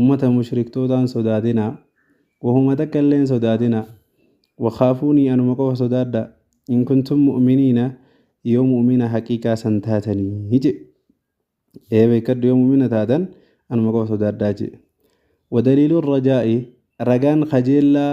Ummata mushriktootaa hin sodaatinaa, wahuma takka illee hin sodaatinaa, wakhaafuunii anuma qofa sodaadhaa, in kuntum mu'miniina yoo mu'mina haqiiqaa san taatanii je'e. Ee beekkadhu yoo mu'mina taatan anuma qofa sodaadhaa je'e. Wadaliilu rajaa'i, ragaan kajeellaa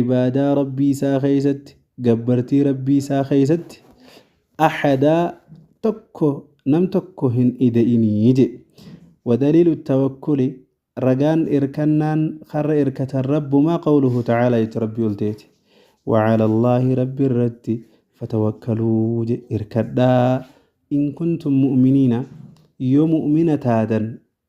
Ibaadaa Rabbii isaa keessatti, gabbartii Rabbii isaa keessatti, ahadaa tokko, nam tokko hin ida'inii je. Wadaliilu tawakkuli, ragaan irkannaan karra irkatan Rabbumaa qawluhu ta'aalaa jechi Rabbii ol ta'eeti. Wa calallaahi Rabbi irratti fatawakkaluu je irkadhaa in kuntum mu'miniina yoo mu'mina taatan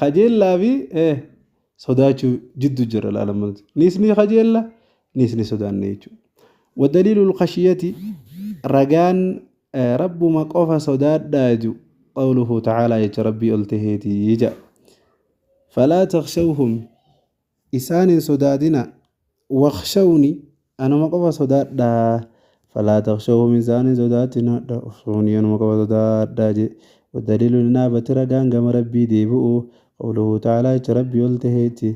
Kajeellaa fi sodaachuu jiddu jira laalama nuti. Nis ni kajeella, nis ni sodaanne jechuudha. Wadaliilul khashiyati ragaan rabbuma qofa sodaadhaa ju qawluhu ta'aalaa jecha rabbii ol taheeti ija. Falaa takshawhum Isaan hin sodaatinaa. Wakhshawni, Anuma qofa sodaadhaa. Falaa takhshawhum Isaan hin sodaatinaadha. Wakhshawnii Anuma qofa sodaadhaa je. Waddaliilu linaabati Ragaan gama Rabbii deebi'u, Qawluhu ta'aalaa jecha Rabbii ol taheeti,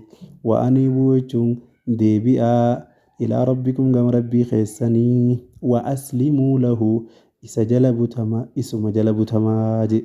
Wa aniibuu jechuun deebi'aa, Ilaa Rabbikum gama Rabbii keessanii, Wa aslimuu lahu Isa jala butama, Isuma jala butamaa je.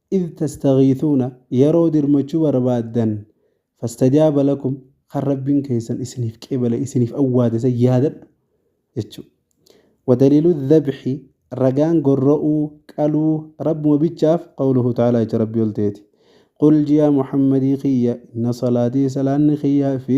Idh tastaghiithuuna yeroo dirmachuu barbaaddan fastajaaba lakum kan Rabbiin keessan isiniif qeebale isiniif awwaate san yaadadhu jechuu wadaliilu dhabxi ragaan gorra'uu qaluu Rabbuma bichaaf qawluhu ta'aalaa jecha Rabbii ol ta'eeti Qul jiyaa Muhammadii kiyya inna salaatii salaanni kiyya fi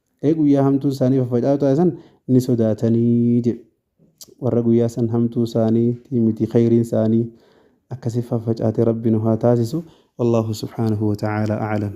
Ee guyyaa hamtuun isaanii faffaca'u taate san ni sodaatanii jedhe. Warra guyyaa san hamtuu isaanii miti khayriin isaanii akkasi faffacaate rabbi nu haa taasisu. Wallahu subhaanahu wa ta'aala a'lam.